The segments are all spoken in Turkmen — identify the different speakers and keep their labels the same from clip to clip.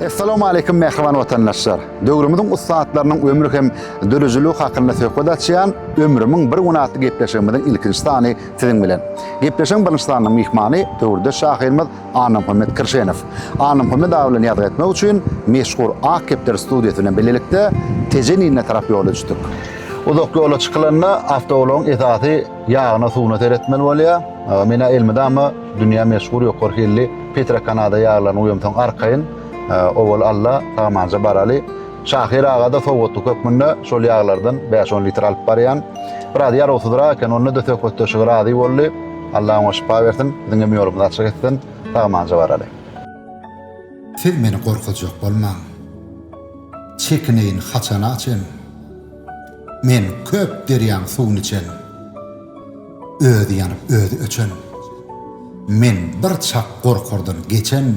Speaker 1: Essalamu aleýkum mähriban watandaşlar. Döwrümiziň ussatlarynyň ömri hem döredijiligi hakynda söhbet açýan Ömrümiň bir güni atly gepleşigimiziň ilkinji sany siziň bilen. Gepleşigiň birinji sanynyň myhmany döwürdeş şahyrymyz Annamuhammet Kirşenow. Annamuhammet aga bilen ýazgy etmek üçin meşhur Ak kepder studiýasy bilen bilelikde Tejenine tarap ýola düşdük. Uzak ýola çykylanda awtoulagyň esasy ýagyna-suwuna seretmeli bolýar. Meni elmydama Dünýä meşhur ýokary hilli Petra Kanada ýaglaryny guýamsoň arkaýyn, owal Alla sagamanja baraly. Şahyr aga-da sowgatlyk hökmünde şol ýaglardan bäş-on litr alyp barýan. Biraz ýarawsyzrak eken, onda-da söhbetdeşige razy boldy. Alla oňa şypa bersin, biziň hem ýolumyzy açyk etsin. Sagamanja baraly.
Speaker 2: Siz meni gorkuzjak bolmaň. Çekineýin haçana çen? Men köp derýaň suwuny içen. Özi ýanyp özi öçen. Men bir çak gorkardan geçen,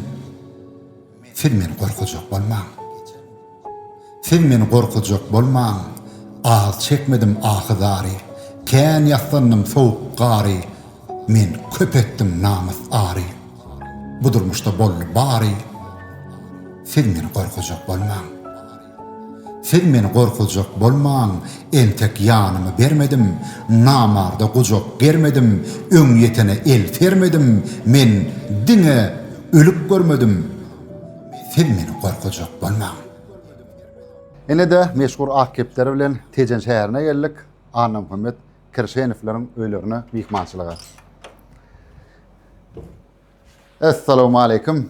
Speaker 2: Siz meni gorkujak bolmaň. Siz meni gorkujak bolmaň, Az çekmedim ahy-zary, Kän ýaslandym sowuk gary, Men köp etdim namys-ary. Bu durmuşda boldy bary, Siz meni gorkujak bolmaň. Siz meni gorkuzjak bolmaň, entek ýanymy bermedim, namarda gujak germedim, öňýetene el sermedim, men diňe ölüp görmedim. Siz meni gorkuzjak bolmaň.
Speaker 1: Ine-de, meşhur Ak kepderi bilen Tejen şäherine geldik, Annamuhammet Kirşenowlaryň öýlerine myhmançylyga. Essalawmaleýkim.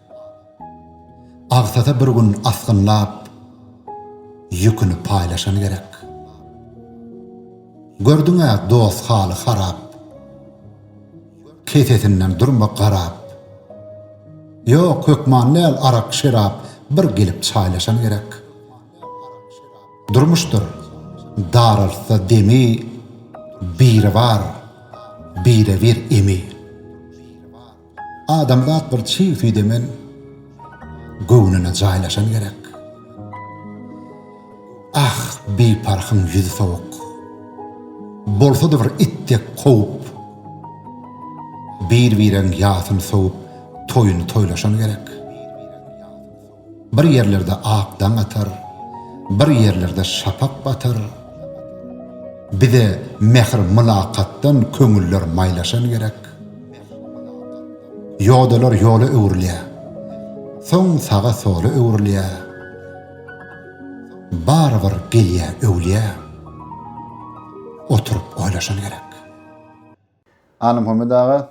Speaker 2: Agsasa bir gün asgynlap, ýüküni paýlaşan gerek. Gördüň-ä dost haly harap, kesesinden durma garap. Ýok, hökman däl arak-şerap, bir gelip çaýlaşan gerek. Durmuşdyr, daraltsa demi, Biribar, Birebir emi. Adamzat bir çig süýdemen göwnüne jaýlaşan gerek. Ah, biparhyň ýüzi sowuk. Bolsa-da bir it dek kowup. Bir-bireň ýasyny sowup toýuny toýlaşan gerek. Bir ýerlerde ak daň atar, Bir ýerlerde şapak batar. Bize mähir-mylakatdan Köňüller maýlaşan gerek. Ýodalar ýola öwrülýär, Soň saga-sola öwrülýär. Barybir gelýär öwlýä, Oturyp oýlaşan gerek.
Speaker 1: Alymhommet aga,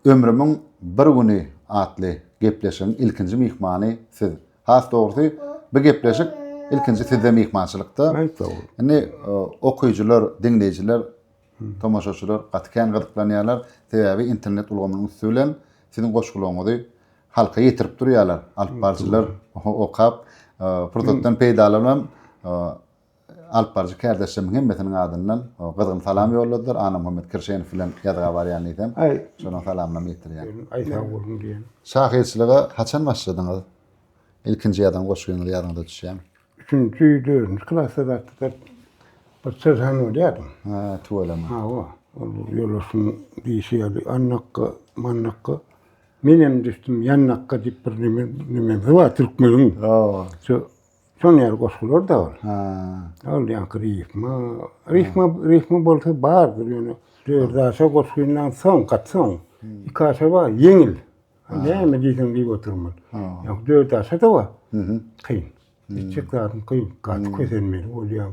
Speaker 1: Ömrümiň bir güni atly gepleşigiň ilkinji myhmany siz. Has dogrusy, bu gepleşik ilkinji sizde myhmançylykda. Aýt sag-bol. Indi okyjylar, diňleýjiler, tomaşaçylar gaty kän gyzyklanýarlar. Sebäbi internet ulgamynyň üsti bilen siziň goşgularyňyzy halka ýetirip durýarlar. Alypbarjylar okap, pursatdan peýdalanyp alyp baryjy kärdeşlerimiň hemmesiniň adyndan gyzgyn salam ýolladylar. Annamuhammet Kirşenow bilen ýazga barýan diýsem, şonuň salamlaryny ýetirýän. Aý sag bolsun diýen.
Speaker 3: Şahyrçylyga
Speaker 1: haçan başladyňyz? Ilkinji ýazan goşgyňyzy ýadyňyza düşýämi? Üçünji,
Speaker 3: dördünji klasda zatda-da bir çyzan bolýardym. Hä, tüweleme.
Speaker 1: Hawa, ol
Speaker 3: ýoldaşyň diýşi ýaly, Annakga, Mannakga, menem düşdüm ýannakga diýip bir neme, neme, Zyba Türkmeniň, Hawa. Şu Şoň ýaly goşgular-da bar. Ha. Ol
Speaker 1: ýaňky
Speaker 3: rifma, rifma, rifma bolsa bardyr ýöne dört aşa goşgyndan soň, gaty soň iki aşa bar, ýeňil. Näme diýseň diýip otyrmyl. Ýok, dört aşa-da bar. Kyn. Etjek zadyň kyn, gaty kösenmeli bolýaň.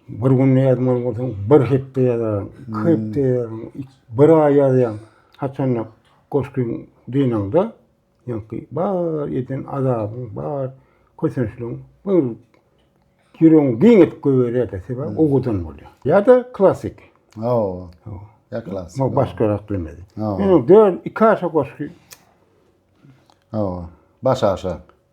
Speaker 3: Bir günde ýazmaly bolsaň, bir hepde ýazaryň, iki hepde ýazaryň, bir aý ýazýaň. Haçanda goşgyň dynaňda, Ýaňky bar eden azabyň, bar kösençligiň bir ýüregiňi giň edip goýberýär-de, sebäbi owadan bolýar. Ýa-da klassyk. Hawa. Hawa.
Speaker 1: Ýa klassyk. Hawa, başgarak bilmedi.
Speaker 3: Hawa. Ýöne dört, iki aşa goşgy. Hawa,
Speaker 1: baş
Speaker 3: aşa.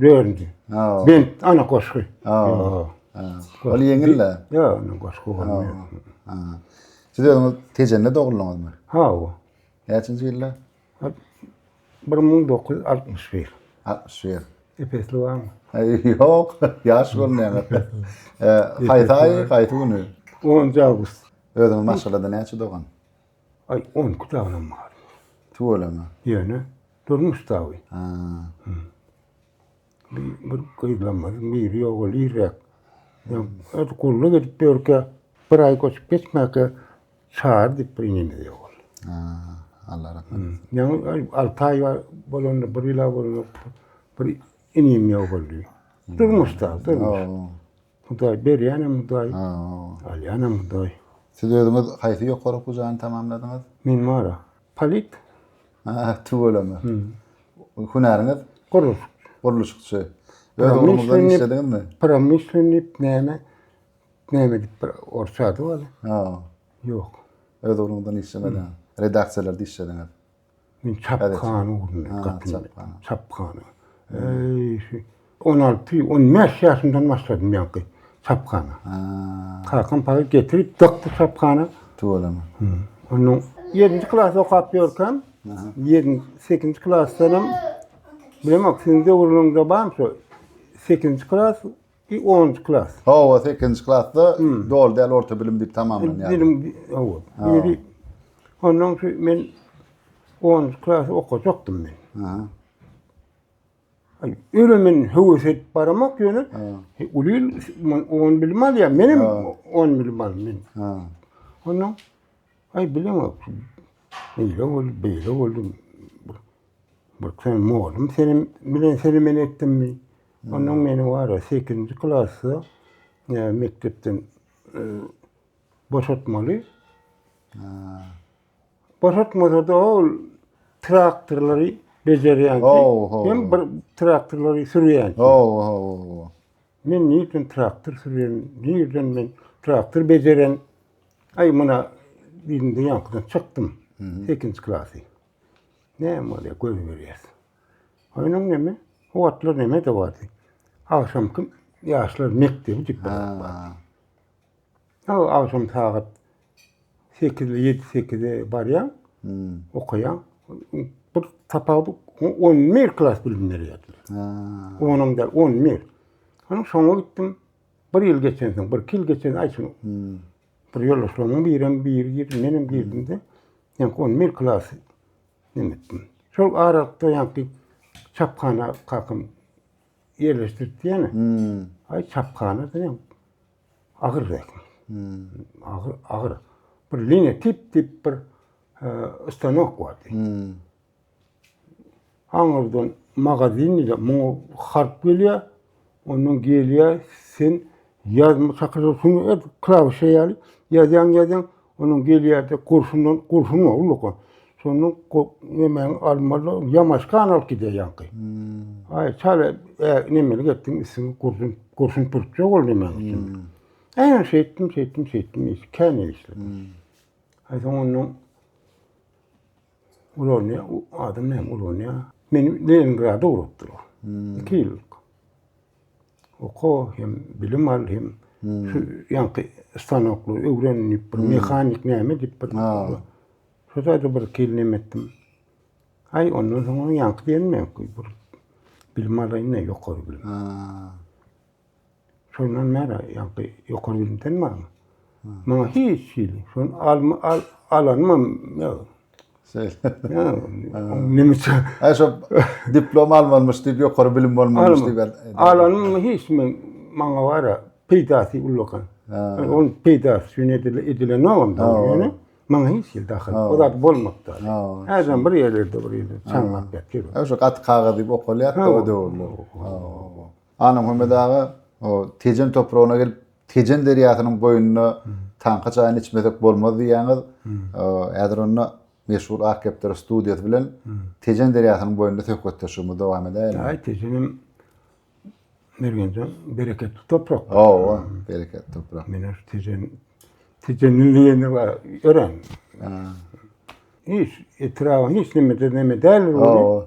Speaker 3: Dördünji. Ha. Ben
Speaker 1: ana koşku. Ha. Ol ýeňil de. Yo, ana koşku
Speaker 3: bolmaýar.
Speaker 1: Ha. Siz özüňiz Tejende doguldyňyzmy? Ha.
Speaker 3: Näçinji
Speaker 1: ýylda?
Speaker 3: 1961. 61.
Speaker 1: Epesli
Speaker 3: barmy? Ýok,
Speaker 1: ýaş görünýär. Haýsy aý, haýsy güni? 10 awgust.
Speaker 3: Özüňiz maşgalada
Speaker 1: näçe dogan? Aý, on
Speaker 3: iki dagynyň bar. Tüweleme.
Speaker 1: Ýöne
Speaker 3: durmuş dagy. Ha. Bir, bir gyzlamyz, biri ýok, ol irräk. Öz gulluk edip ýörkä, bir aý göçüp geçmäkä çar diýip bir inimiz ýok ol.
Speaker 1: Ha, Allah rahmet etsin. Ýöne alty
Speaker 3: aý bolanda, bir ýyla bolanda bir inim ýok boldy. Durmuş dagy, durmuş. Hudaý berýänem Hudaý. Alýanam Hudaý. Siz özüňiz
Speaker 1: haýsy ýokary okuw jaýyny tamamladyňyz? Men Mara.
Speaker 3: Polit. Ha,
Speaker 1: tüweleme. Hünäriňiz? Gurluşyk.
Speaker 3: Gurluşykçy.
Speaker 1: Öz ugruňyzda işlediňizmi? Promyslenniý
Speaker 3: näme? Näme diýip bir orsça ady bar. Ha.
Speaker 1: Ýok.
Speaker 3: Öz ugruňyzda
Speaker 1: işlemediňiz. Redaksiýalarda işlediňiz. Men
Speaker 3: çapgany urundym gapyny. Çapgany. Eý, şu 16-15 ýaşymdan başladym ýaňky çapgany. Kakam para getirip dakdy çapgany. Tuwalama.
Speaker 1: Onuň
Speaker 3: 7-nji klas okap ýörkäm, 7-nji klasdanam bilemok, siziň döwrüňizde barmy şu 8-nji klas, I onunjy klas. Hawa, sekizinji
Speaker 1: klasda doly däl orta bilim diýip tamamlanýar. Bilim, hawa.
Speaker 3: Indi ondan şu men onunjy klasy okajakdym men. Aha. Ay, öyle men höwes edip baramak ýöne uly on bilim alýar. Menem on bilim aldım men. Ha.
Speaker 1: Ondan
Speaker 3: ay bilemok. Beýle boldy, beýle boldy. Bir sen mollum senem bilen senem etdimmi? Onnoň meniň wara sekizinji klasda mekdepden boşatmaly. Boşatmasa-da ol traktorlary bejerýänki, hem bir traktorlary sürýänki. Hawa, hawa. Men nirden traktor sürýän, nirden men traktor bejeren. Aý, muna diýdim-de, ýaňkydan çykdym. Sekizinji klasy. Näme bolýar, göz berýäs. Oýnaň näme? Howatlar näme dowady? Agşam kim ýaşlar mekdebi diýip barýar. Ha, agşam sagat 8-de, 7-8-de barýaň, hmm. okaýaň. Bir tapawudy 11 klas bilim berýärdiler. Ha. Onuň da 11. Onuň soňuna gitdim. Bir ýyl geçen soň, bir ýyl geçen aýtym. Hmm. Bir ýoldaşlarymyň birem biri girdi, menem girdim-de, ýaňky ony men klasy neme etdim. Şol aralykda ýaňky çaphana kakam ýerleşdiripdi ýene. Hmm. Aý çaphana diýen agyr zähmet. Hmm. Agyr, agyr. Bir lineotip diýip bir e, stanok bardy. Hmm. Aňyrdan magazin diýdi. Muňa harp gelýär. Ondan gelýär. Sen ýazma çakyja şuny et klawişe ýaly. Ýazýaň ýazýaň. Ondan gelýärdi. Gurşundan gurşun bar ullaky. Şondan nemäni almaly, ýamaşkan alyp gidýär ýaňky. Hmm. Aý, çal nemeli getdim, üstüni gurşun, gurşun pürtjek ol nemäni hmm. üstüni. Äýne şeýtdim, şeýtdim, şeýtdim, kän işledim. Hmm. Aý, soň ondan Ulanýa, u adam näme ulanýa? Meni Leningrada ugratdyr. Hmm. Iki ýyl. Oka hem bilim al hem hmm. şu ýanky stanokly öwren bir hmm. mehanik näme diýip bir. Ha. Şu zady bir kelinem etdim. Ay ondan soň ýanky diýenme, bir bilim alaýyn, ýokary bilim. Ha. Şondan nära ýaňky ýokary bilimden barmy? Maňa hiç hili. Şon almy al alanmam ýok. Şeýle. Nemeçe. Ha şo
Speaker 1: diplom almanmyş diýip ýokary bilim bolmanmyş diýip. Alanmam hiç
Speaker 3: men maňa bara peýdasy ullakan. Ol peýdasy şun edile edile ne onda ýöne maňa hiç hil dahyl. O zat bolmapdy. Häzem bir ýerlerde bir ýerde çaňlap ýatyr. Şu gat kagyz diýip
Speaker 1: okalýar da o döwürler. Anamhommet aga o Tejen topragyna gelip, Tejen derýasynyň boýunda taňky çaýyny içmesek bolmaz diýýäňiz. Häzir onda meşhur Ak kepderi studiýasy bilen Tejen derýasynyň boýunda söhbetdeşligimizi dowam edäýeliň. Aý, Tejenem
Speaker 3: Mergenjan bereketli toprak. Hawa, bereketli
Speaker 1: toprak. Meni şu
Speaker 3: Tejen Tejenli diýenler bar, örän. Hiç etrabyň hiç neme-de neme däl. Hawa.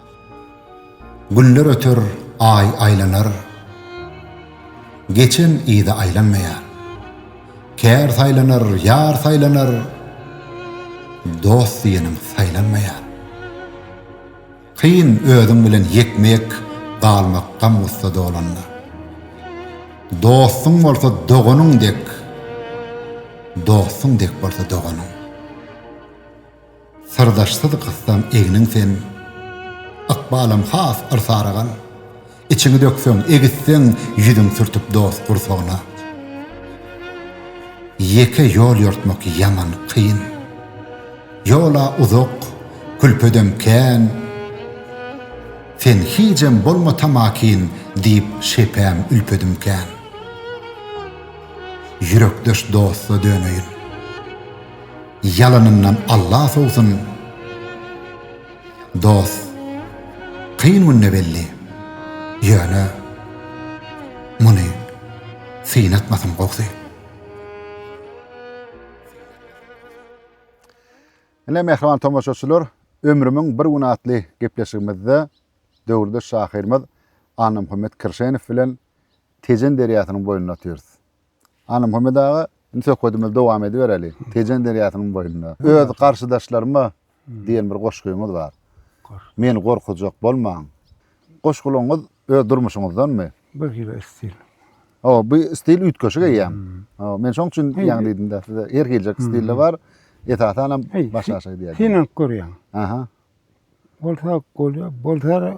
Speaker 2: Günler öter, Aý aýlanar, Geçen yza aýlanmaýar. Kär saýlanar, ýar saýlanar, Dost diýeniň saýlanmaýar. Kyn özüň bilen ýekme-ýek Galmak gam-gussa dolanda. Dostuň bolsa doganyň dek, Dostuň dek bolsa doganyň. Syrdaşsyz gyssaň egniň sen, Ykbalam has bir sarygan. Içiňi dökseň, egisseň, Ýüzüň sürtüp dost gursagyna. Ýeke ýol ýortmak ýaman kyn. Ýol-a uzak, külpedem kän. Sen hijem bolma tamakin, Diýip şepäm ülpedim kän. Ýürekdeş dosta döneýin. Ýalanyndan Alla sowsun Dos kyn günde belli Ýöne muny synatmasyn gowsy.
Speaker 1: Ine mähriban tomaşaçylar, Ömrümiň bir güni atly gepleşigimizde döwürdeş şahyrymyz Annamuhammet Kirşenow bilen Tejen derýasynyň boýunda otyrys. Anamhummad aga, indi söhbedimizi dowam edibereli. Tejen derýasynyň boýunda. Öz garşydaşlaryma diýen bir goşgyňyz bar. Meni gorkuzjak bolmaň. Goşgularyňyz öz durmuşyňyzdanmy? Bir hili stil.
Speaker 3: Hawa, bu
Speaker 1: stil üýtgeşik eýýäm. Hawa, men şoň üçin ýaňy diýdim-de, sizde her hiljek stil bar. Esasanam başgaça diýýär. Synanyp görýäň.
Speaker 3: Aha.
Speaker 1: Bolsa
Speaker 3: bolýar, bolsa-da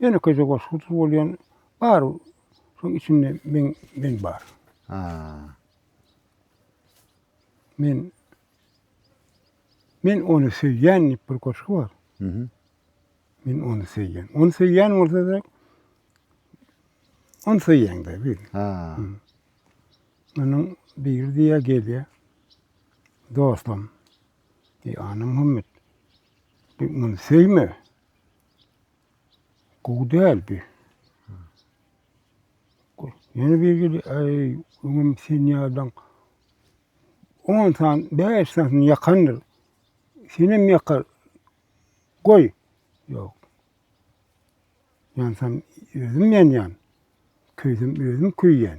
Speaker 3: Ýönekeýje goşgusyz bolýan bar. Şoň içinde men men bar. Ha. Men Men ony söýýän diýip bir goşgy bar. Mhm. Men ony söýýän. Ony söýýän bolsa-da ony söýýäňde bil. Ha. Munuň biri diýýär gelýär. Dostum. Ey ana Muhammet. Bir muny söýme. Gowy däl bi. Ýene bir gidi, aý, öňem sen ýadan on san, bäş san ýakandyr. Senem ýakar. Goý. Ýok. Ýansam özüm ýanýan. Köýsem özüm köýýän.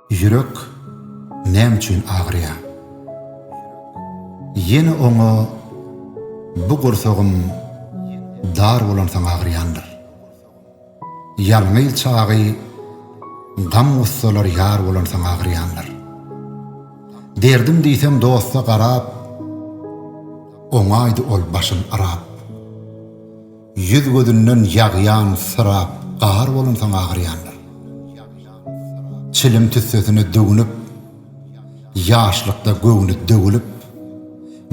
Speaker 2: Ýürek näme üçin agyrýar? Ýene oňa bu gursagym dar bolansoň agyrýandyr. Ýalňyz çagy gam-gussalar ýar bolansoň agyrýandyr. Derdim diýseň dosta garap, oňaýdy ol başyn yrap. Ýüz-gözünden ýagýan syrap gar bolansoň agyrýandyr. Çilim tüssesine döwünip, ýaşlykda göwni döwülip,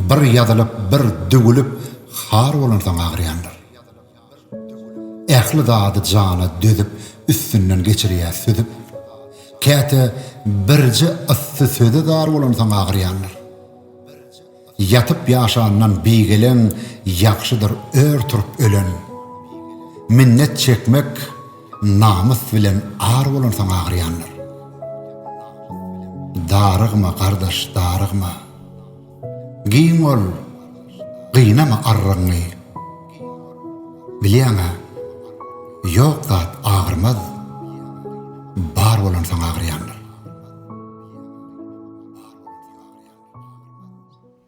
Speaker 2: bir ýazylyp, bir düwülip har bolansoň agyrýandyr. Ähli zady jana dözüp, üstünden geçirýär süzüp, käte birje yssy söze zar bolansoň agyrýandyr. Ýatyp ýaşandan bigeleň ýagşydyr ör turup ölen. Minnet çekmek namys bilen ar bolan soň agyrýandyr. Darygma gardaş darygma. Giň bol gynama arrygyňy. Bilýäňä ýok zat agyrmaz bar bolan soň agyrýandyr.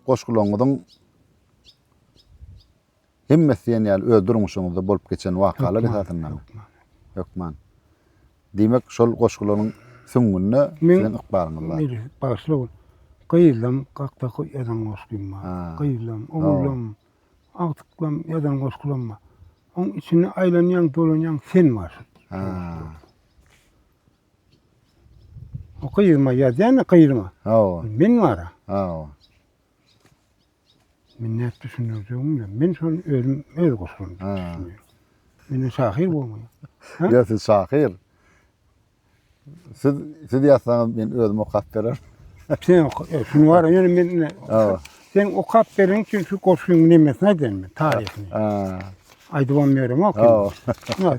Speaker 1: Goşgularyňyzyň hemmesi diýen ýaly öz durmuşyňyzda bolup geçen wakalar esasynda. Hökman. Diýmek, şol goşgularyň süňňünde siziň ykbalyňyz bar. Meni bagyşla bol.
Speaker 3: Gyzym, gakda ýazan goşgym bar. Gyzym, oglum, agtyklam ýazan goşgularym bar. Onuň içinde aýlanýan, dolanýan sen barsyň. O gyzyma ýazýan gyzyma. Hawa. Men bara. Hawa. Men näp düşündirjegim bilen. Men şol özüm öz guşum. Ha. Men şahyr bolmaý. Ýa siz
Speaker 1: şahyr. Siz siz ýazsaňyz men özüm okap berer. Sen e,
Speaker 3: şunu var ýöne men Hawa. Sen okap beriň üçin şu goşgyň nemesini aýdaýyn men taryhyny. Ha. Aýdybam ýörem ok. Hawa.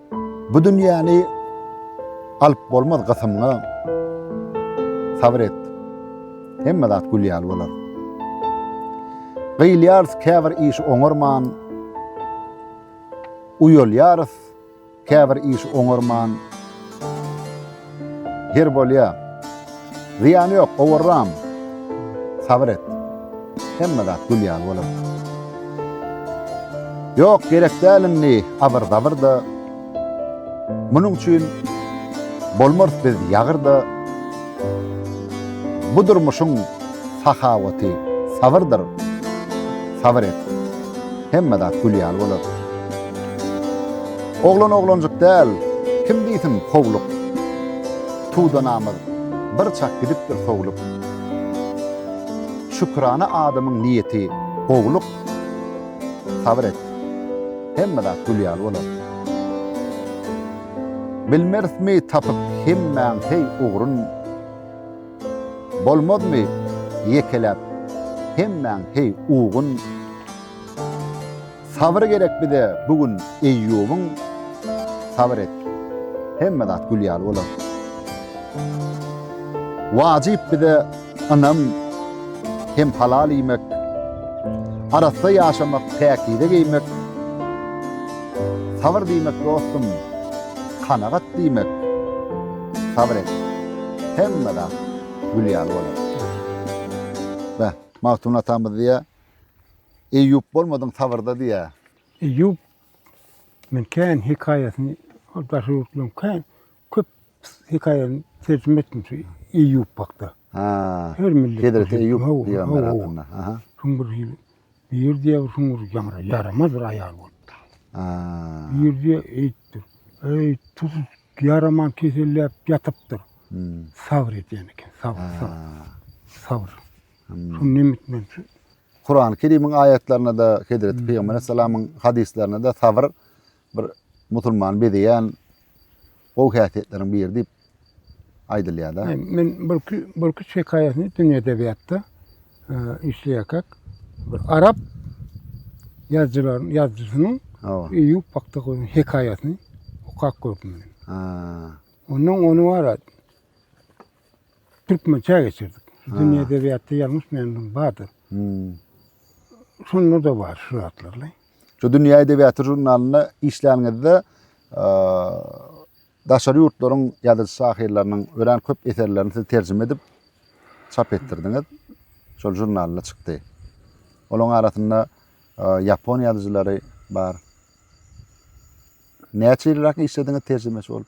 Speaker 1: Bu dünýäni alyp bolmaz gysymňa Sabyr et, hemme zat gül ýaly bolar. Gyýylýarys käbir iş oňarman, Uýalýarys käbir iş oňarman, Her bolýa. Zyýany ýok, gowurram. Sabyr et. Hemme zat gül ýaly bolar. Ýok, gerek däl indi abyr-zabyr-da. Munuň üçin bolmarys biz ýagyr-da. Bu durmuşyň sahawaty sabyrdyr. Sabyr et. Hemme zat gül ýaly bolar. Oglan oglanjyk däl, kim diýsin howluk. Tuda namaz, bir çak gidipdir sowlup. Şükrana adamyň niýeti, gowluk. Sabyr et, hemme zat gül ýaly bolar. Bilmerismi tapyp hemmäň heý ugrun. Bolmazmy ýekeläp hemmäň heý ugun. Sabyr gerek bize bu gün Eýýubyň Sabyr et hemme zat gül ýaly bolar Wajyp bize ynam hem halal iýmek Arassa ýaşamak päkize geýmek Sabyr diýmek dostum kanagat diýmek Sabyr et hemme zat gül ýaly bolar Magtymguly atamyz diýýär Eýýup bolmadyň sabyrda diýýä. Eýýup
Speaker 3: men kän hekaýasyny ol daşary ýurtlaryň kän köp hekaýasyny terjime etdim şu Eýýup hakda. Ha. Her millet. Hezreti Eýýup pygamber
Speaker 1: hakynda. Aha. Şuň bir hili
Speaker 3: bir diýe şuň bir ýamra ýaramaz bir aýal bolupdy. Ha. Bir diýe eýtdi. Eý, tuz ýaraman keselläp ýatypdyr. Hmm. Sabr edýän eken, sabr, sabr. Sabr. Şuny nemet men şu. Kurany
Speaker 1: Kerimiň aýatlarynda-da, Hezreti Pygamber aleyhissalamyň hadyslarynda-da sabr bir musulmany bezeýän gowy häsiýetleriň biri diýip aýdylýar-da. Men bir iki
Speaker 3: bir iki hekaýasyny dünýä edebiýatda işleýärkäk bir arap ýazyjylaryň ýazyjysynyň Eýýup hakda goýan hekaýasyny okap gördüm. Ha. Ondan ony bar Türkmençe geçirdik. Dünýä edebiýatda ýalňyş menden bardyr. Hmm. Şonda da bar şu zatlarly. Şu Dünýä
Speaker 1: edebiýaty žurnalynda işlänizde daşary ýurtlaryň ýazyjy şahyrlarynyň örän köp eserlerini siz terjime edip çap etdirdiňiz. Şol žurnalda çykdy. Olaryň arasynda ýapon ýazyjylary bar. Näçe ýylrak işlediňiz terjimeçi bolup?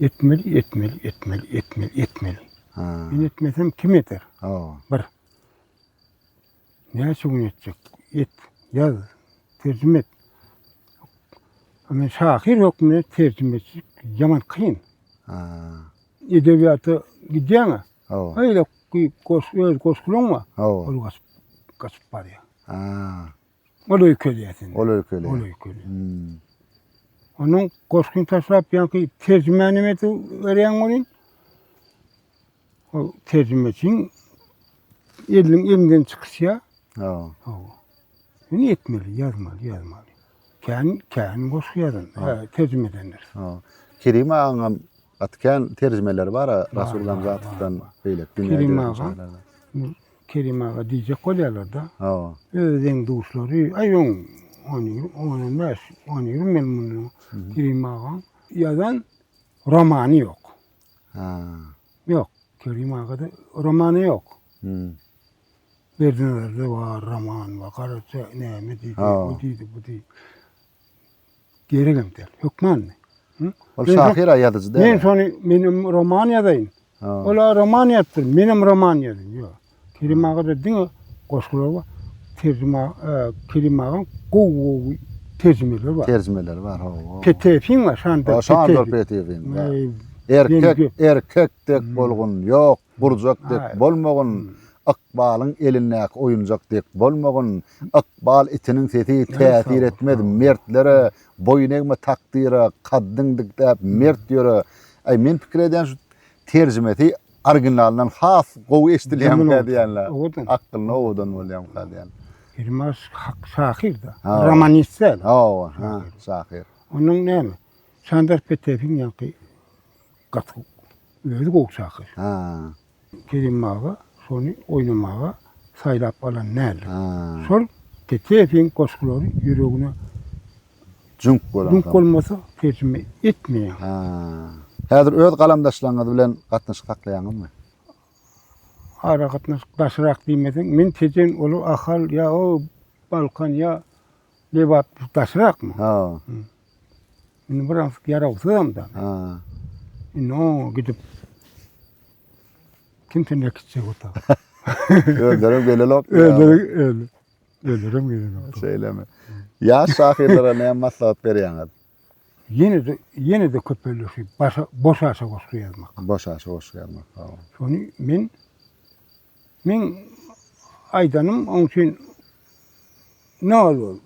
Speaker 3: Etmeli, etmeli, etmeli, etmeli, etmeli.
Speaker 1: Ha. Men etmesem kim
Speaker 3: eder? Hawa. Bir. Näçe gün etjek? Et, yaz, tercime et. Men şahyr hökmünde tercime etjek yaman kyn. Ha.
Speaker 1: Edebiyata
Speaker 3: gidýäňä. Hawa. Öyle goş, öz goşgulaň bar. Hawa. Ol gaçyp, gaçyp barýar. Ha.
Speaker 1: Ol
Speaker 3: öýkelýär. Ol öýkelýär. Ol
Speaker 1: öýkelýär.
Speaker 3: Hmm.
Speaker 1: Onuň
Speaker 3: goşgyny taşlap ýaňky terjimeni meti berýän bolýan. Ol terjime üçin eliniň elinden çykyşýar. Ha. Ha. Ýöne etmeli, ýazmaly, ýazmaly. Kän, kän goşgy ýazan, ha, terjime edenler. Ha. Kerim
Speaker 1: agaň atkan terjimeleri bar, Rasul Gamzatowdan beýle. Kerim aga.
Speaker 3: Kerim aga diýjek bolýarlar-da. Hawa. Öz
Speaker 1: deň-duşlary,
Speaker 3: aý on, on ýigrimi, on, on bäş, on ýigrimi ýyl mundan Kerim agaň ýazan romany ýok. Ha.
Speaker 1: Ýok.
Speaker 3: Kerim agada romany ýok. Hmm. Berdinazarda bar roman, bar, Garaja näme diýdi, o diýdi, bu diýdi. Geregem däl. Hökmanmy? Ol şahyr-a,
Speaker 1: ýazyjy däl. Men şony, menem roman
Speaker 3: ýazaýyn. Ol-a roman ýazypdyr, menem roman ýazyň. Ýok. Kerim agada diňe goşgular bar. Terjime, Kerim agaň gowy-gowy terjimeleri bar. Terjimeleri bar, hawa.
Speaker 1: Peteýewiň bar, Şandor
Speaker 3: Peteýewiň. Şandor Peteýewiň.
Speaker 1: Erkek, erkek dek bolgun, ýok. Gurjak dek bolmagyn, ykbalyň elindäki oýunjak dek bolmagyn, ykbal itiniň sesi täsir etmez mertlere, boýun egme takdyra, kaddyň dikdäp mert ýöre. Aý men pikir edýän şu terjimesi originalyndan has gowy eşidilýänmikä diýýänle. Owadan. Akylly owadan bolýamyka diýýän. Elmas
Speaker 3: hak şahyr-da. Romanist däl. Hawa,
Speaker 1: şahyr. Onuň näme?
Speaker 3: Sandar Petepiň ýaňky Gaty özi gowy çakyr. Ha. Kerim aga şony oýnamaga saýlap alan däldir. Ha. Şol Teteýewiň goşgulary ýüregine
Speaker 1: Jüňk bolan. Jüňk bolmasa
Speaker 3: terjime etmeýär. Ha.
Speaker 1: Häzir öz galamdaşlaryňyz bilen gatnaşyk saklaýaňyzmy?
Speaker 3: Aragatnaşyk daşrak diýmeseň, men tejen olar Ahal ýa o Balkan ýa Lebap daşrakmy? Ha. Indi biraz ýarawsyzam-da. Ha. Indi oňa gidip kim sende gitjek ota? Özlerim
Speaker 1: gelelok. Özleri öl.
Speaker 3: Özlerim gelelok. Şeýlemi?
Speaker 1: Ýaş şahyrlara näme maslahat berýäňiz? Ýene de
Speaker 3: ýene de köpelişip başa boş aşa goşgy ýazmak. Boş aşa goşgy ýazmak.
Speaker 1: Şony men
Speaker 3: Meň aýdanym oň üçin nol bol.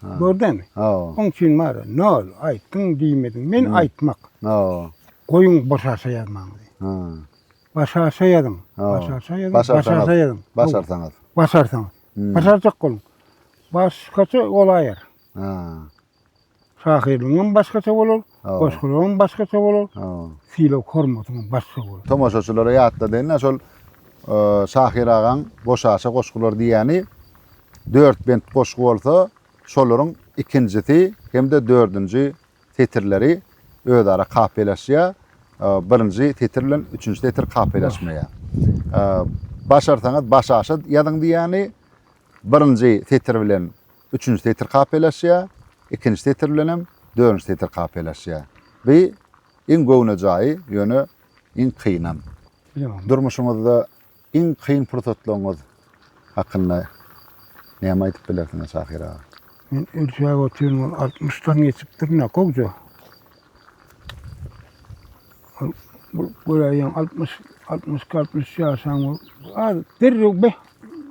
Speaker 3: Gördämi? Hawa. Oň üçin bar, nol, aýtdyň, diýmediň. Men aýtmak. Hawa. Goýuň başarsa ýazmaňyzy. Ha. Başarsa ýazyň. Başarsa ýazyň. Başarsa ýazyň.
Speaker 1: Başarsaňyz. Başarsaňyz.
Speaker 3: Başarjak boluň. Başgaça golaýar. Ha. Şahyrlygyňam başgaça bolar, goşgylaryňam başgaça bolar, sylag-hormatyňam başga bolar. Tomaşaçylara ýatladaýyn-da,
Speaker 1: şol Şahyr agaň Boşaça goşgular diýýäni dört bent goşgy bolsa, şolaryň ikinjisi hem-de dördünji setirleri özara kapylaşýar, birinji setir bilen üçünji setir kapylaşmaýar. Başarsaňyz Başaşa ýazyň diýýäni birinji setir bilen Üçünji setir kapelaşýar, ikinji setir bilenem dördünji setir kapelaşýar. Bu iň göwne jaýy, ýöne iň kynam. Durmuşyňyzda iň kyn pursatlaryňyz hakynda näme aýdyp bilersiňiz Şahyr aga? Men ölçäp
Speaker 3: otyryn, ol altmyşdan geçipdir ine, gowja. Bu göräýen altmyş, altmyşki, altmyş ýaşan bol. Az derrew beh,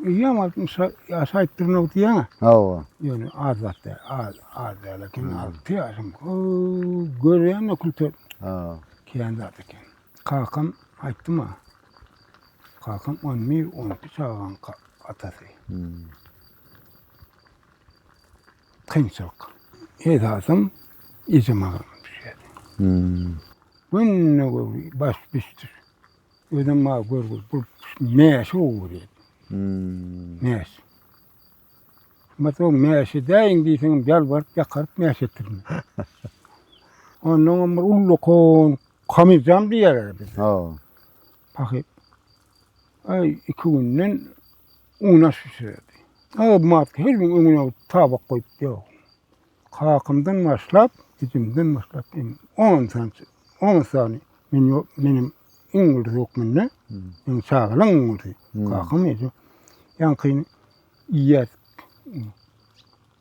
Speaker 3: öýem altmyş ýaş aýtdyrmak diýýän-ä. Hawa. Ýöne az zat däl, az, az däl eken, alty ýaşam. Ow, görýän-ä külter. Ha. Kän zat eken. Kakam aýtdy maňa. Kakam on bir, on iki çagaň ka- atasy. Kynçylyk. Esasym ejem agyrdan düşýärdi. Günde görgi, baş biçdir. Özem maňa görgüli bolup, mäşi gowy görýärdi. Mäş. Şumat o mäş edäýiň diýseňem ýalbaryp, ýakaryp mäş etdirdi. Onnoňam bir ullakan kamyzjam diýerler bizde. Pahyr. Aý, iki günden unaş bişirerdi. Aýbym-aty her gün öňüne tabak goýup, ýok. Kakamdan başlap, jijimden başlap, iň on sany, on sany men ýo- meniň iň uly hökmünde, iň çagalygyň iň uly. Kakam eje ýaňkyny iýýärdik.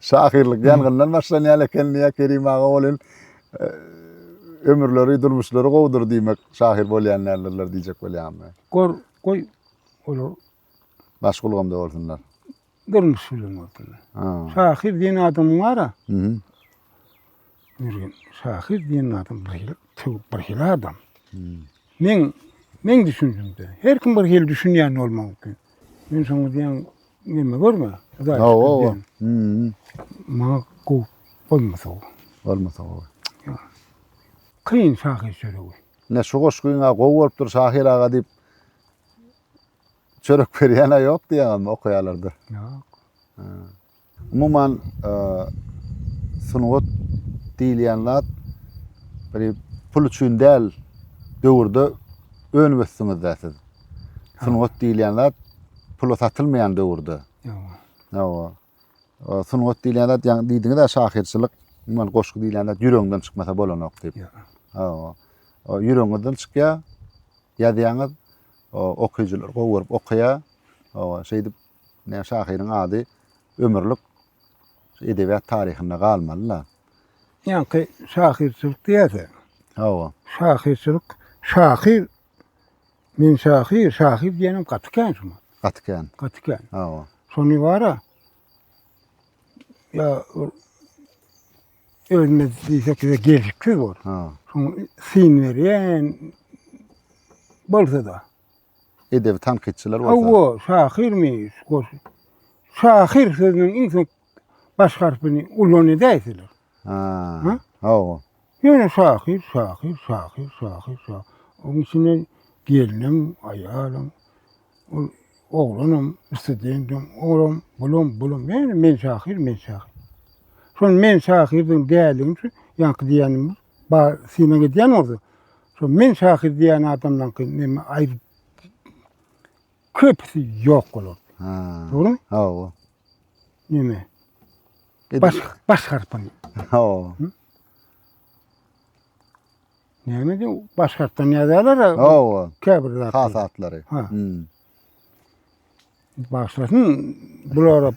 Speaker 1: Şahyrlyk ýangyndan başlanýan eken diýýär Kerim aga welin e, ömürleri, durmuşlary gowudyr diýmek şahyr bolýan däldirler diýjek bolýan men. Gor, goý,
Speaker 3: olar Maşgul
Speaker 1: gamda bolsunlar. durmuş
Speaker 3: bilen boldular. Ha. Şahyr diýen adam bar-a, Mhm. Jürgen şahyr diýen adam bir hili söwüp bir hili adam. Men men düşünjimde her kim bir hili düşünýän bolmagy mümkin. Men şoňa diýen neme görme. Hudaý Hawa, şükür hawa. diýen. Hmm. Maňa gowy bolmasa o. Bolmasa gowy. Kyn şahyr çöregi. Ne şu goşgyňa
Speaker 1: gowy bolupdyr şahyr aga diýip çörek berýän-ä ýok diýýäňizmi okaýarlarda? Ýok. Umuman, sungat diýilýän zat bir pul üçin däl döwürde önüp ösdüňiz-dä siz. Sungat diýilýän zat pula satylmaýan döwürde. Hawa. Sungat diýilýän zat ýaňy diýdiňiz-ä şahyrçylyk, umuman goşgy diýilýän zat ýüregiňden çykmasa bolanok diýip. Hawa. O ýüregiňizden çykýar, ýazýaňyz, okyjylar gowy görüp okaýar. Hawa, şeýdip Näme şahyryň ady ömürlik edebiýat taryhynda galmaly-la. Ýaňky
Speaker 3: şahyrçylyk diýýärsiň. Hawa. Şahyrçylyk, şahyr Men şahyr, şahyr diýenim gaty kän şuňa. Gaty kän. Gaty kän. Hawa. Şony bara ýa özüne diýsek de gelşiksiz bor. Ha. Şoň syn berýän bolsa-da. edebi
Speaker 1: tankytçylar bolsa. Hawa, şahyrmy,
Speaker 3: goşgy. Şahyr sözüniň iň soň baş harpyny ulan edäýseler. Ha. Ha? Hawa. Ýöne şahyr, şahyr, şahyr, şahyr, şahyr. Onuň içinde gelnim, aýalym, ol oglanam, studentim, olam, bulam, bulam. Ýöne men şahyr, men şahyr. Şol men şahyrdygyny däligiň üçin ýaňky diýenimiz bar synag edýän bolsa, şo men şahyr diýýän adamlaňky neme aýdyp köpüsi ýok bolar. Ha. Dogrumy? Hawa. Neme? Baş baş harpyny. Hawa. Neme diýip baş harpdan ýazýarlar? Hawa. Käbir zatlary. Hasatlary. Ha. Bagşylaryň bulara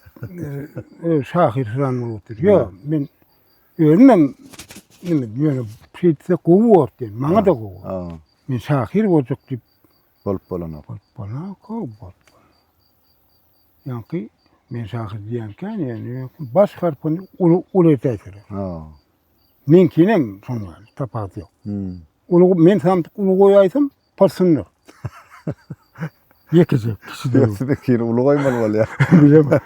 Speaker 3: öz şahyrsyzan bolupdyr. Ýok, men özümem indi ýöne şeýtse gowy bor diýen, maňa da gowy. Ha. Men şahyr boljak diýip bolup bolanok.
Speaker 1: Bolup bolanok, gowy bor.
Speaker 3: Ýaňky men şahyr diýenkä, ýöne baş harpyny uly uly etäýsir. Ha. Meňkinem şonda tapat ýok. Hmm. Uly men sandyk uly goýaýsam, Porsynlyk. Ýekeje kişi döw. Ýötüp ikini uly goýmaly
Speaker 1: bolýar. Bilemok.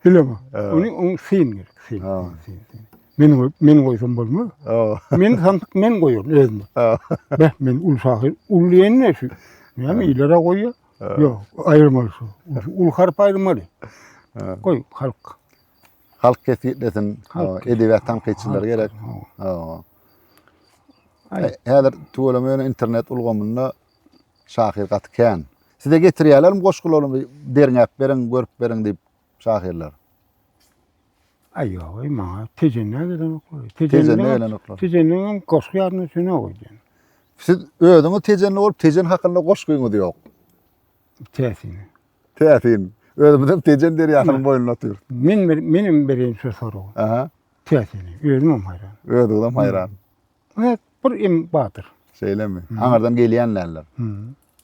Speaker 3: Bilemok. Ony ony syn gerek, syn. Ha. syn, syn. Men goý, men goýsam bolmaz. O. Men santyk men goýaryn özüme. Ha. Beh, men ul şahyr, ul diýende şu. Näme ilere goýýar? Ýok, aýyrmaly şu. Ul harp aýyrmaly. Ha. Goý, halk.
Speaker 1: Halk kesgitlesin. Edebiýat tankytçylary gerek. Häzir tüweleme ýöne internet ulgamynda şahyr gaty kän. Size getirýärlermi goşgularymy derňäp beriň, görüp beriň diýip şahyrlar? Ay
Speaker 3: yok ay maňa tejenne gelen oklar. Tejenne gelen oklar.
Speaker 1: Tejenne hem koşku
Speaker 3: yardım sene oydu. Siz
Speaker 1: özüňiz tejenli olup tejen hakkında koşkuňuz yok. täsin.
Speaker 3: Täsin.
Speaker 1: Özümiz hem Tejen derýasynyň boýunda otyrys. Men bir menem bereýin
Speaker 3: şu soragy. Aha. Täsin.
Speaker 1: Özüm
Speaker 3: hem haýran. Özüňiz hem haýran.
Speaker 1: Evet,
Speaker 3: bir em batyr. Şeýlemi?
Speaker 1: Aňardan gelýän däller.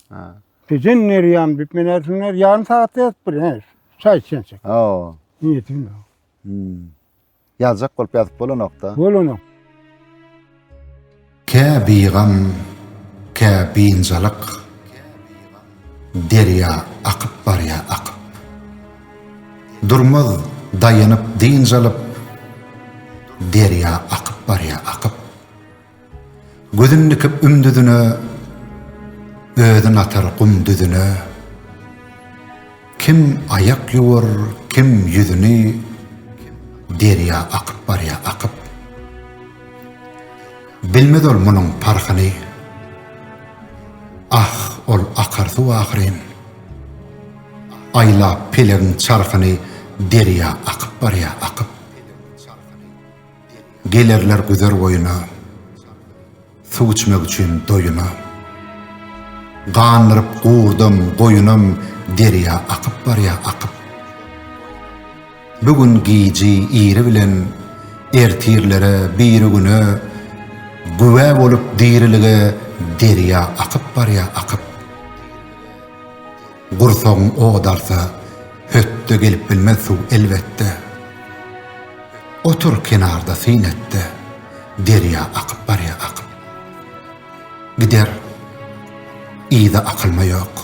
Speaker 1: Ha. Tejen
Speaker 3: derýam diýip men ersinler ýarym sagatda ýetip bir. Çaý içençek. Oo. Niýetim
Speaker 1: ýok.
Speaker 3: Hmm.
Speaker 1: Ýazjak bolup ýazyp bolanokda. Bolanok.
Speaker 3: Kä
Speaker 2: bigam, kä biynjalyk derýa akyp barýa akyp. Durmaz daýanyp dynç alyp derýa akyp barýa akyp. Gözün dikip üm düzüne, Özün atar gum düzüne. Kim aýak ýuwar, kim ýüzüni, Derýa akyp barýa akyp. Bilmez ol munuň parhyny, Ah, ol akar suw ahyryn. Aýlap pelegiň çarhyny Derýa akyp barýa akyp. Gelerler güzer boýuna, Suw içmek üçin doýuna. Gandyryp gurdam, goýunam Derýa akyp barýa, akyp. Bu gün giji iri bilen Ertirlere, birigüne Güwä bolup dirilige Derýa akyp barýa, akyp. Gursagyň ot alsa, hötde gelip bilmez suw elbetde. Otur kenarda syn etde, derýa akyp barýa akyp. Gider, yza akylma ýok.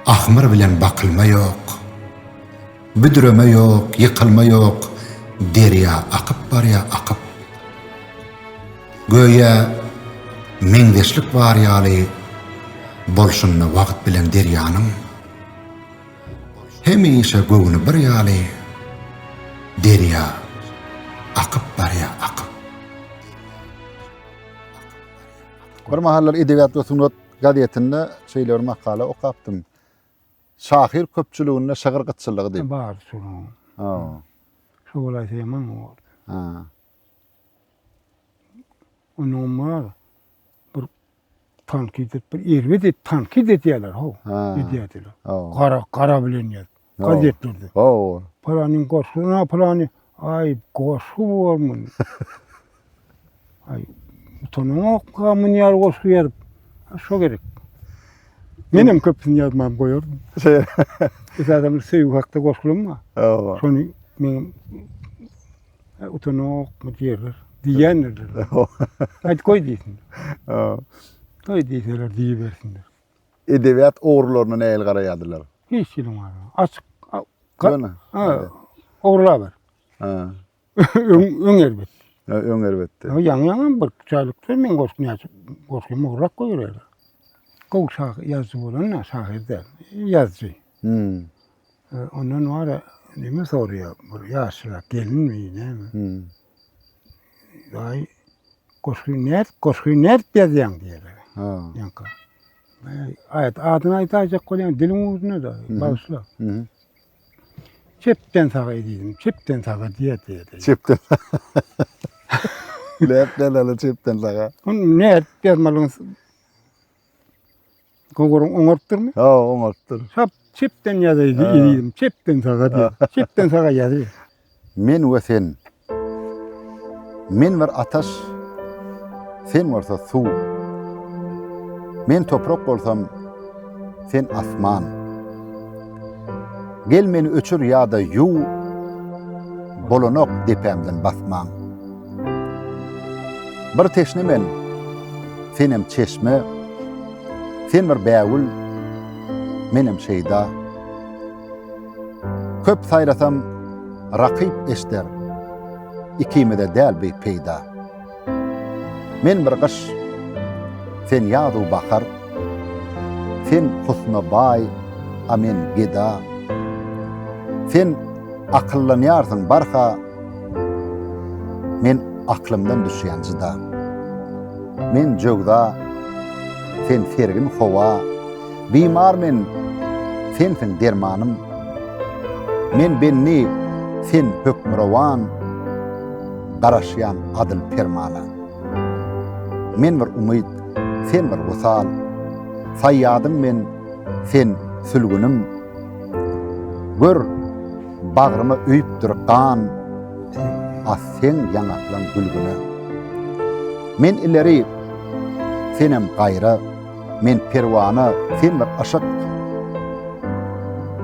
Speaker 2: Ahmyr bilen bakylma ýok. Büdreme ýok, ýykylma ýok, derýa akyp barýa akyp. Göýä meňzeşlik bar ýaly bolşunda wagt bilen derýanyň. Hemişe göwni bir ýaly derýa akyp barýa akyp.
Speaker 1: Bir mahallar Edebiýat we sungat gazetinde şeýle bir makala okapdym. Şahyr köpçüliginde şygyr gytçylygy diýip. Bar şonuň. Ha. Şo
Speaker 3: bolaýsa ýaman boldy. Ha. Onuň bar. Bir tankyt edip, bir erbet edip, tankyt edýärler, ho. Ha. Edýärdiler. Ha. Gara, gara
Speaker 1: bilen ýaz.
Speaker 3: Gazetlerde. Ha.
Speaker 1: Palanyň goşgyna,
Speaker 3: palany, aý, goşgy bormy? Ay, utanamokka münýär goşgy ýazyp. Şo gerek. Menem köpüsini ýazmam goýardym. Şey. Esasan söýgi hakda goşgulym bar. Hawa. Şony
Speaker 1: meňem
Speaker 3: e, utanamokmy diýerler. Diýýändirler. Aýt goý diýsin. Hawa.
Speaker 1: Goý
Speaker 3: diýseler diýibersinler. Edebiýat
Speaker 1: ogrularyna nähili garaýardylar? Hiç ýerim barma.
Speaker 3: Açyk. a- Ka- Ýöne.
Speaker 1: Ha.
Speaker 3: Ogurla ber. Ha.
Speaker 1: Öň,
Speaker 3: öň erbet. Ha, Öň erbetdi.
Speaker 1: Ha, Ýaňy ýaňam bir
Speaker 3: çaýlyk söz men goşgy näçe goşgy mugrak goýberdi. Gowy şahyr, ýazyjy bolanda şahyr däl, ýazyjy. Hmm. E, Ondan bar ya, neme soraýar, bir ýaşlyrak gelinmi, näme? Hmm. Daýy, goşgy nädip, goşgy nädip ýazýaň diýerler. Ha. Ýaňka. Aýat adyny aýdaýjak bolýan diliň ugruna da, bagyşla. Mhm. Çepden saga edýädim, çepden saga diýýär-diýýär. Çepden.
Speaker 1: Läp dälala çepden saga. Hon ne dermalyň
Speaker 3: Goguryň oňartdyrmy? Ha, oňartdyr.
Speaker 1: Çap çepden
Speaker 3: ýazaýdy, edýädim, çepden saga diýýär. Çepden saga ýazyýar. Men we
Speaker 1: sen. Men bir ataş, sen bolsa suw. Men toprak bolsam, sen asman. Gel meni öçür ýa-da ýuw, bolanok depämden basmaň. Bir teşne men, senem çeşme, sen bir bägül, menem şeýda. Köp saýrasam rakyp eşder, Ikimize däl bi peýda. Men bir gyş, sen ýazu bahar, Sen husna baý, a men geda. Sen akyllanýarsyň barha, Men aklymdan düşýän jyda. Men jöwza, sen sergin howa. Bimar men, Sensiň dermanym. Men bendi, Sen hökmürowan, Garaşýan adyl permana. Men bir umyt, Sen bir wysal, Saýýadym men, Sen sülgünim. Gör, bagryma öýüpdir gan, As seň ýaňaklaň gülgüne. Men ileri, Senem gaýra. Men perwana sen bir yşyk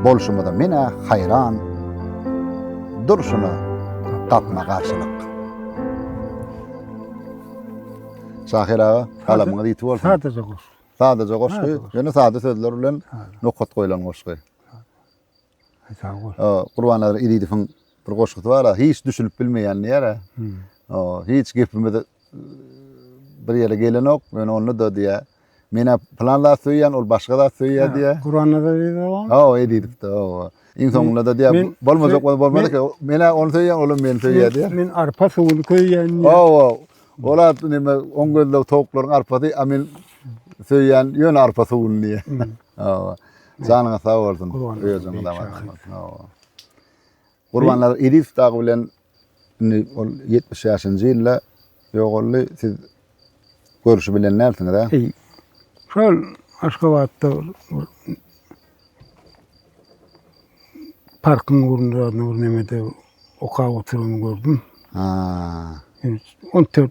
Speaker 1: Bolşumyza men-ä haýran Durşuna gapma garşylyk Şahyr aga, galamyňyz ýiti bolsun. Sadaja goşgy.
Speaker 3: Sadaja goşgy,
Speaker 1: ýöne sada sözler bilen nokat goýlan goşgy.
Speaker 3: Sag bol. Gurbannazar Elidowyň
Speaker 1: bir goşgusy bar-a, hiç düşünip bilmeýän diýýär-ä. Hiç gepimiz bir ýere gelenok, ýöne onda-da diýýär, men-ä plan zat söýýän, ol başga zat söýýär diýýär. Gurbannazar
Speaker 3: Elidowyň? Hawa, Elidow, hawa.
Speaker 1: Iň soňunda da diýýär, bolmajak bolsa bolmaz eken, men-ä ony söýýän, ol hem meni söýýär diýýär. Men arpa suwuny
Speaker 3: köýýän diýýär. Hawa, ol
Speaker 1: at neme, oň gözleg towuklaryň arpasy, a men söýýän ýöne arpa suwuny diýýär. Hawa. Janyňyz sag bolsun. Özüňiz aman bolsun. Hawa. Gurbanlar Idis dagy bilen indi ol 75-nji ýylda ýogaldy. Siz görüşi bilen närsiniz, ha? Eý. Şol
Speaker 3: Aşgabatda parkyň ugrunda nur nemede okap oturyny gördüm. Ha. 14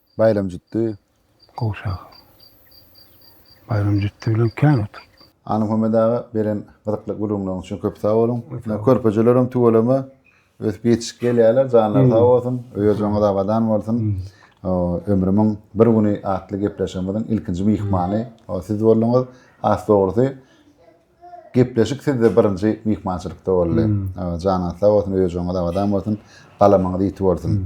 Speaker 1: Baýram jütdi. Gowşak.
Speaker 3: Baýram jütdi bilen kän oturyp. Anymuhammet aga
Speaker 1: beren gyzykly gürrüňleriňiz üçin köp sag boluň. Körpejelerem tüweleme ösüp ýetişip gelýärler, janlary sag bolsun, öýerjäňiz abadan bolsun. Ömrümiň bir güni atly gepleşigimiziň ilkinji myhmany siz bolduňyz. Has dogrusy Gepleşik sizde birinji myhmançylykda boldy. Janyňyz sag bolsun, öýjüňiz abadan bolsun, galamyňyz ýiti bolsun.